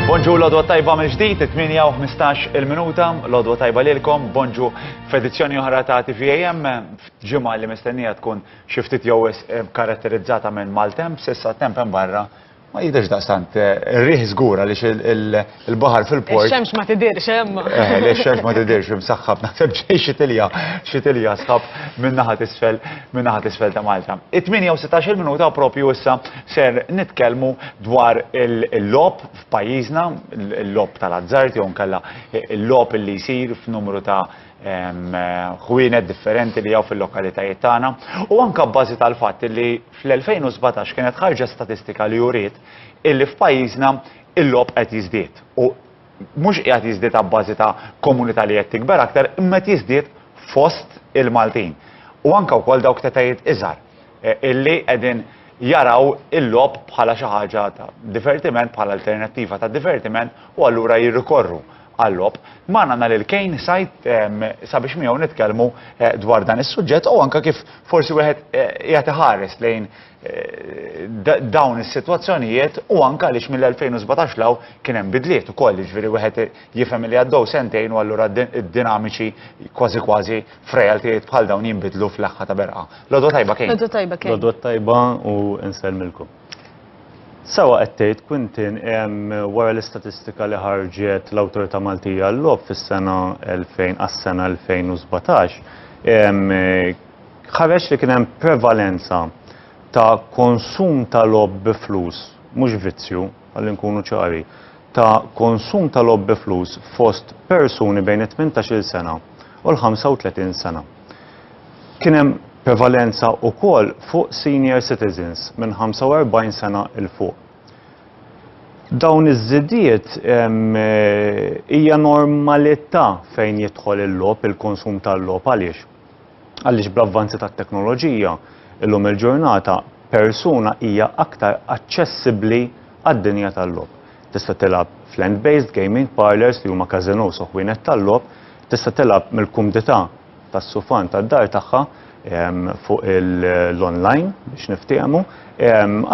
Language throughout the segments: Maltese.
Bonġu l-odwa tajba mill ġdid 8:15 il-minuta, l-odwa tajba lilkom, bonġu f'edizzjoni oħra ta' TVAM, ġimgħa li mistennija tkun xiftit jew eh, karatterizzata minn maltemp, sissa temp hemm barra Ma jidhirx daqstant ir-riħ żgur għaliex il-baħar fil-port. Ix-xemx ma tidhirx hemm. Eh, le x-xemx ma tidhirx imsaħħab naħseb ġej xi tilja, xi tilja sħab minn naħa t'isfel, minn naħa t'isfel ta' Malta. It-18 minuta propju issa ser nitkellmu dwar il-lob f'pajjiżna, il-lob tal-azzard jew nkella il-lob li jsir f'numru ta' ħwienet differenti li hawn fil-lokalitajiet tagħna u anke bbażi tal-fatt li fl-2017 kienet ħarġet statistika li juriet illi f'pajjiżna il-logħob qed jiżdied u mhux qiegħed jiżdied abbażi ta' komunità li qed tikber aktar imma qed jiżdied fost il-Maltin. U anke wkoll dawk tetajiet iżgħar e, illi qegħdin jaraw il-lob bħala xi ħaġa ta' divertiment, bħala alternattiva ta' divertiment u allura jirrikorru għal-logħob. Magħna nhar il-Kejn Said sabiex miegħu nitkellmu dwar dan is-suġġett u anke kif forsi wieħed qiegħed iħares lejn dawn is-sitwazzjonijiet u anke għaliex mill-2017 'l hawn kien hemm bidliet ukoll, jiġifieri wieħed jifhem li għaddew sentejn u allura d-dinamiċi kważi kważi f'realtijiet bħal dawn jinbidlu fl-aħħa ta' berqa. L-għodwa tajba Kejn. L-għodwa tajba Kejn. L-għodwa tajba u nsellmilkom. Sewwa qed tgħid Quintin, wara l-istatistika li ħarġet l-Awtorità Maltija għal-Logħob fis-sena 2000 għas-sena 2017, ħareġ li kien hemm prevalenza ta' konsum ta' logħob bi flus, mhux vizzju, ħalli nkunu ċari, ta' konsum ta' logħob bi flus fost persuni bejn it-tmintax-il sena u l-35 sena. Kien hemm prevalenza wkoll fuq senior citizens minn 45 sena 'l fuq. Dawn iż-żidiet hija normalità fejn jidħol il-logħob, il-konsum tal-logħob għaliex? Għaliex bl-avvanzi tat-teknoloġija illum il-ġurnata persuna hija aktar aċċessibbli għad-dinja tal-logħob. Tista' tilgħab f'land-based gaming parlours li huma każinòs u ħwienet tal-logħob, tista' tilgħab mill-kumdità tas-sufan tad-dar tagħha fuq l-online biex niftiehmu,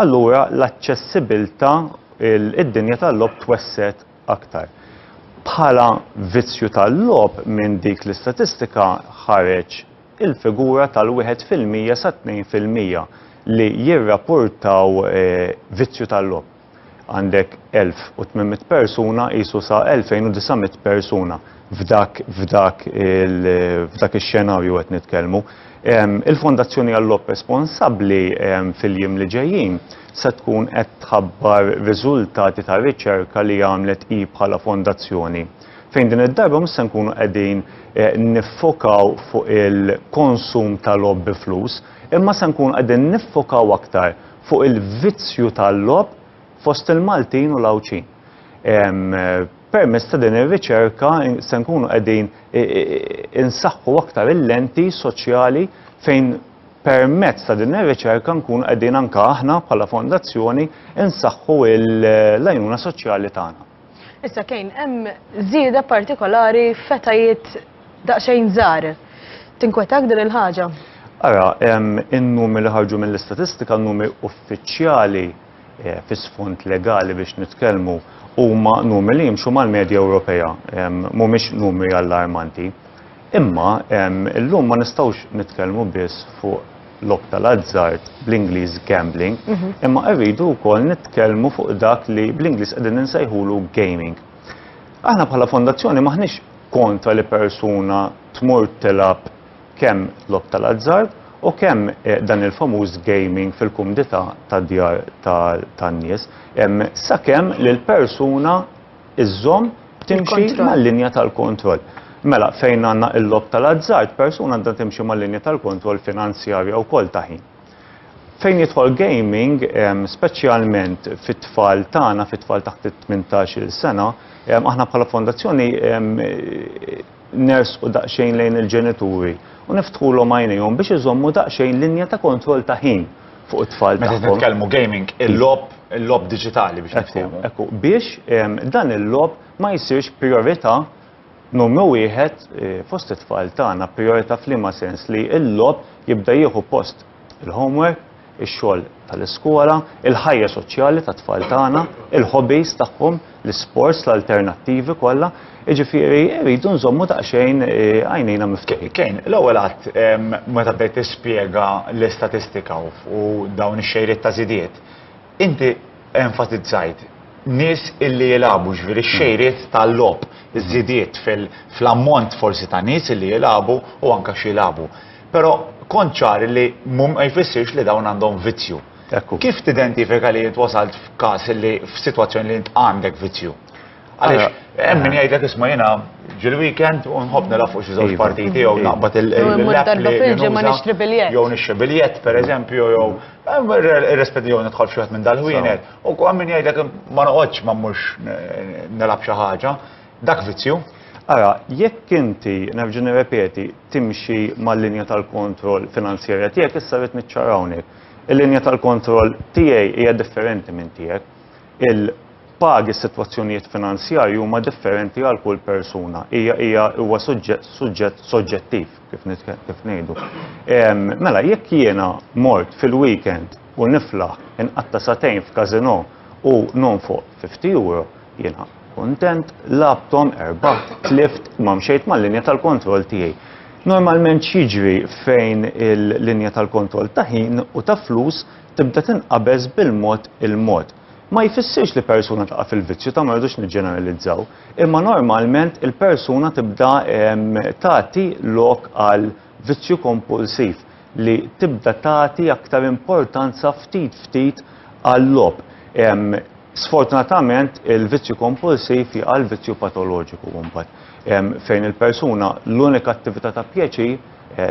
allura l-aċċessibbiltà, id-dinja tal-logħob twessgħet aktar. Bħala vizzju tal-logħob minn dik l-istatistika ħareġ il-figura tal-wieħed fil-mija sa tnejn fil-mija li jirrapportaw vizzju tal-logħob. għandek 1,800 persuna qisu sa 2,900 persuna f'dak f'dak f'dak ix-xenarju qed nitkellmu. Il-Fondazzjoni Għallop responsabbli fil-jiem li ġejjin se tkun qed tħabbar riżultati ta' riċerka li għamlet hi bħala fondazzjoni fejn din id-darba mhux se nkunu qegħdin niffokaw fuq il-konsum tal-logħob bi flus imma se nkunu qegħdin niffokaw aktar fuq il-vizzju tal-logħob fost il-Maltin u l-Għawdxin. Permezz ta' din ir-riċerka se nkunu qegħdin insaħħu aktar il-lenti soċjali fejn permezz ta' din ir-riċerka nkunu qegħdin anke aħna bħala fondazzjoni nsaħħu l-għajnuna soċjali tagħna. Issa kejn hemm żieda partikolari f'etajiet daqsxejn żgħar. Tinkwetak din il-ħaġa? Ara, in-numri li ħarġu mill-istatistika, n-numri uffiċjali eh, fi sfond legali biex nitkellmu, huma numri li jimxu mal-medja Ewropea, mhumiex numri allarmanti. Imma illum ma nistgħux nitkellmu biss fuq logħob tal-azzard, bl-Ingliż gambling, imma rridu wkoll nitkellmu fuq dak li bl-Ingliż qegħdin insejħulu gaming. Aħna bħala fondazzjoni m'aħniex kontra li persuna tmur tilgħab kemm logħob tal-azzard u kemm dan il-famuż gaming fil-kumdità tad-djar tan-nies, sakemm li l-persuna iżżomm timxi mal-linja tal-kontroll. Mela, fejn għandna l-lob tal-azzard, persuna għandha timxi mal-linja tal-kontroll finanzjarja wkoll ta' ħin. Fejn jidħol gaming, speċjalment fit-tfal tagħna, fit-tfal taħt it-18-il sena, aħna bħala fondazzjoni nersqu daqsxejn lejn il-ġenituri u niftħulhom għajnejhom biex iżommu daqsxejn linja ta' kontroll ta' ħin fuq it-tfal tagħhom. Meta nitkellmu gaming, il-logħob, il-logħob diġitali biex niftehmu. Ekku, biex dan il-logħob ma jsirx prijorità numru wieħed fost it-tfal tagħna. Prijorità f'liema sens? Li l-logħob jibda jieħu post il-homework, ix-xogħol tal-iskola, il-ħajja soċjali tat-tfal tagħna, il-hobbies tagħhom, l-isports, l-alternattivi kollha, jiġifieri rridu nżommu daqsxejn għajnejna miftuħin. Kane, l-ewwel għadd meta bdejt tispjega l-istatistika u dawn ix-xejriet ta' żidiet, inti enfasizzajt nies illi jilagħbu, jiġifieri x-xejriet tal-logħob, iż-żidiet fl-ammont forsi ta' nies illi jilagħbu u anke x'jilagħbu. Però kont ċar li mum ma jfissirx li dawn għandhom vizzju. Kif tidentifika li jint wasalt f'każ li f'sitwazzjoni li jint għandek vizzju? Għaliex, hemm min jgħidlek isma' jiena ġil-weekend u nħobb nilgħab fuq xi żewġ iva. partiti jew iva. naqbad il-biljett. Jew nixxi biljett, pereżempju, jew irrespedi jew nidħol f'xi minn dal-ħwienet. U hemm min jgħidlek ma noqgħodx ma mmux nilgħab xi ħaġa. Dak vizzju? Ara, jekk inti, nerġa' nirrepeti, timxi mal-linja tal-kontroll finanzjarja tiegħek, issa rrid niċċara hawnhekk. Il-linja tal-kontroll tiegħi hija differenti minn tiegħek. Il pagi s-sitwazzjonijiet finanzjarji huma differenti għal kull persuna. Hija hija huwa suġġett soġġettiv kif kif ngħidu. Mela jekk jiena mort fil-weekend u niflaħ inqatta satejn f'każino u nonfoq 50 euro, Jiena kuntent, lagħbthom, erbaħt, tlift, imma mxejt mal-linja tal-kontroll tiegħi. Normalment x'jiġri fejn il-linja tal-kontroll ta' ħin u ta' flus tibda tinqabeż bil-mod il-mod. Ma jfissirx li persuna taqa' fil-vizzju ta' ma rridux niġġeneralizzaw, imma normalment il-persuna tibda tagħti lok għal Vizzju kompulsiv li tibda tagħti aktar importanza ftit ftit għal-logħob. Sfortunatament il-vizzju kompulsiv jaqa' l-vizzju patoloġiku mbagħad, fejn il-persuna l-unika attività ta' pjaċir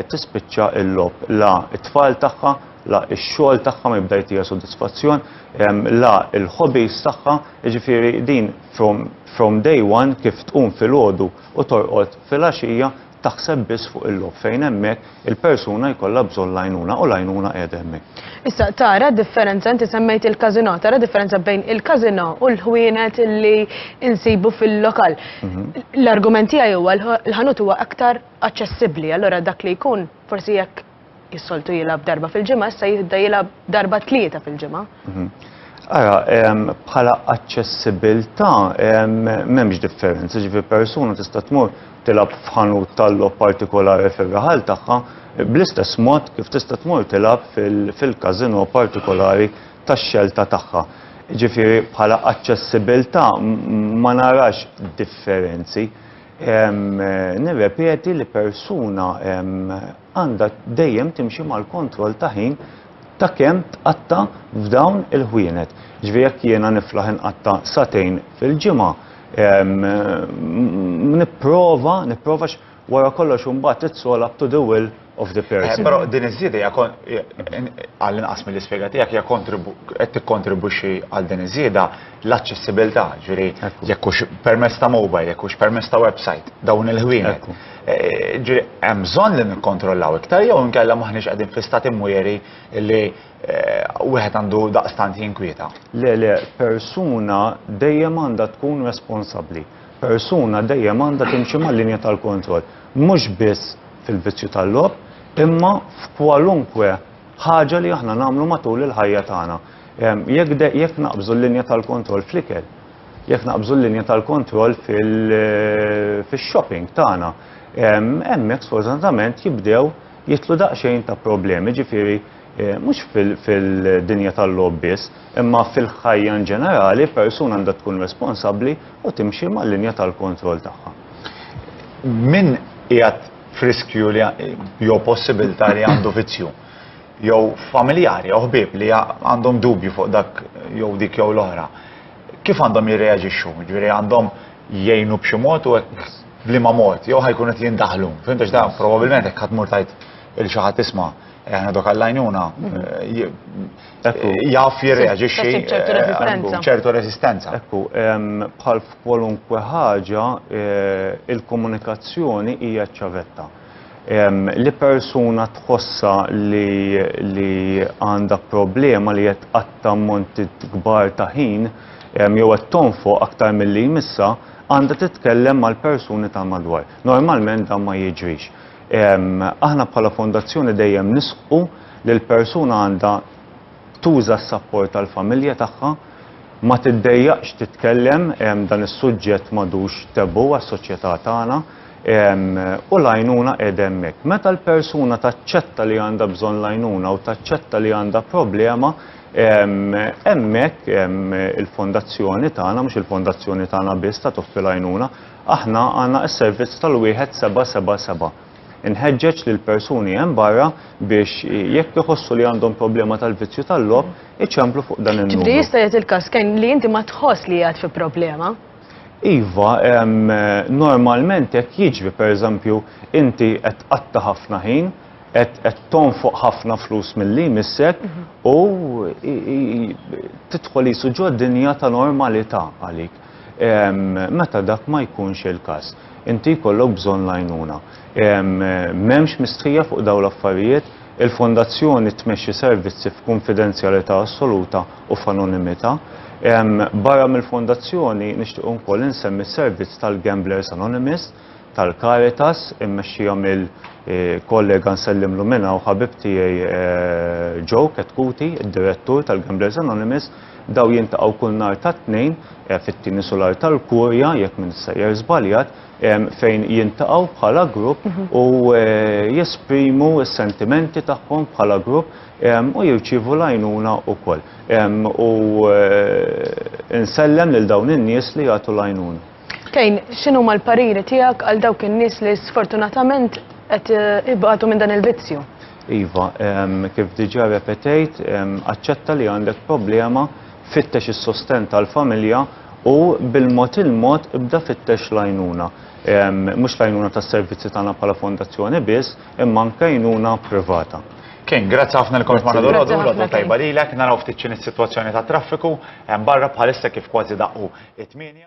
tispiċċa l-logħob. La t-tfal tagħha, la x-xogħol tagħha ma jibda jtiha sodisfazzjon, la l-hobbies tagħha, jiġifieri din from day one kif tqum filgħodu u torqod filgħaxija, taħseb biss fuq il-logħob fejn hemmhekk il-persuna jkollha bżonn l-għajnuna u l-għajnuna qiegħda hemmhekk. Issa tara d-differenza, inti semmejt il-każinò, tara differenza bejn il-każinò u l-ħwienet li nsibu fil-lokal. Mhm. L-argument tiegħi huwa l-ħanut huwa aktar aċċessibbli, allura dak li jkun forsi jekk Kif soltu jilgħab darba fil-ġimgħa, issa jibda jilgħab darba tlieta fil-ġimgħa. Mhm. Ara, bħala aċċessibilità m'hemmx differenza, ġifi persuna tista' tmur tilab f'ħanut tal-lob partikolari fir-raħal tagħha bl-istess mod kif tista' tmur tilab fil-kazino partikolari tax-xelta tagħha. Ġifieri bħala aċċessibilità ma narax differenzi. Nirrepeti li persuna għandha dejjem timxi mal-kontroll ta' ħin ta' kemm tqatta' f'dawn il-ħwienet. Ġifieri jekk jiena niflaħ inqatta' sagħtejn fil-ġimgħa, nipprova, nipprova għax wara kollox imbagħad it's all up to the will of the person. Però din iż-żieda hija għall-inqas mill-ispjega tiegħek hija qed tikkontribwixxi għal din iż-żieda. l-aċċessibilità, ġifieri jekk hux permezz ta' mobile, jekk hux permezz ta' website, dawn il-ħwienet. Eh, ġifieri hemm bżonn li nikkontrollaw iktar jew inkella m'aħniex qegħdin fi stati mwieri li eh, wieħed għandu daqstant jinkwieta. Le, le, persuna dejjem għandha tkun responsabbli. Persuna dejjem għandha timxi mal-linja tal-kontroll. Mhux biss fil-vizzju tal-lob, imma f'kwalunkwe ħaġa li aħna nagħmlu matul il-ħajja tagħna. Jekk naqbżu l-linja tal-kontroll fl-ikel, jekk naqbżu l-linja tal-kontroll fil-shopping tagħna, hemmhekk sfortunatament jibdew jidħlu daqsxejn ta' problemi, ġifieri mhux fil-dinja tal-logħob biss, imma fil-ħajja in ġenerali, persuna għandha tkun responsabbli u timxi mal-linja tal-kontroll tagħha. Min qiegħed f'riskju jew possibilità li għandu vizzju? jew familjari jew ħbieb li għandhom dubju fuq dak jew dik jew l-oħra, kif għandhom jirreaġixxu? Ġifieri għandhom jgħinu b'xi mod u hekk b'liema mod jew ħajkunu qed jindaħlu. Fhimt għax dan probabbilment hekk ħadd mur tgħid il xi ħadd isma' aħna dok għall-għajnuna jaf jirreaġixxi ċertu resistenza. Ekku, bħal f'kwalunkwe ħaġa il-komunikazzjoni hija ċavetta. Li persuna tħossha li għandha problema li qed tqatta' ammonti kbar ta' ħin jew qed tonfoq aktar milli jmissha, għandha titkellem mal-persuni tal-madwar. Normalment dan ma jiġrix. Aħna bħala fondazzjoni dejjem nisħqu li l-persuna għandha tuża s-sapport tal-familja tagħha, ma tiddejjaqx titkellem, dan is-suġġett m'għadux taboo għas-soċjetà tagħna, u l-għajnuna qiegħda hemmhekk. Meta l-persuna taċċetta li għandha bżonn l-għajnuna u taċċetta li għandha problema, hemmhekk il-fondazzjoni tagħna, mhux il-fondazzjoni tagħna biss ta' toffi l-għajnuna, aħna għandna s-servizz tal-wieħed seba' seba' seba'. Inħeġġeġ lill-persuni hemm barra biex jekk iħossu li għandhom problema tal-vizzju tal-logħob, iċemplu fuq dan in-numru. Ġifieri jista' jagħti l-każ Ken li inti ma tħoss li qiegħed fi problema? Iva, normalment hekk jiġri, pereżempju inti qed tqatta' ħafna ħin, qed qed tonfoq ħafna flus milli jmissek u tidħol qisu ġo dinja ta' normalità għalik. meta dak ma jkunx il-każ. Inti jkollok bżonn l-għajnuna. M'hemmx mistħija fuq dawn l-affarijiet, il-Fondazzjoni tmexxi servizzi f'kunfidenzjalità assoluta u f'anonimità. Barra mill-Fondazzjoni nixtieq wkoll insemmi s-servizz tal-Gamblers Anonymous tal-Caritas immexxija mill kollega nsellimlu minn hawn ħabib tiegħi Joe Ketkuti, id-Direttur tal-Gamblers Anonymous, Dawn jiltaqgħu kull nhar tat-Tnejn, fit-tieni sular tal-Kurja, jekk m'intx sejjer żbaljat, fejn jiltaqgħu bħala grupp u jesprimu s-sentimenti tagħhom bħala grupp u jirċievu l-għajnuna wkoll. U nsellem lil dawn in-nies li jagħtu l-għajnuna. Tejn, x'inhuma l-pariri tiegħek għal dawk in-nies li sfortunatament qed eh, ibatu minn dan il-vizzju? Iva, kif diġa repetejt, aċċetta li għandek problema, fittex is-sosten tal-familja u bil-mod il-mod ibda fittex lajnuna. Mux lajnuna tas servizzi tagħna bħala fondazzjoni biss, imma nkajnuna privata. Kien, grazzi ħafna li kont ma nadur għadu, għadu tajba li l-ek, naraw ftit is-situazzjoni ta' traffiku, barra bħalissa kif kważi daqqu it-8.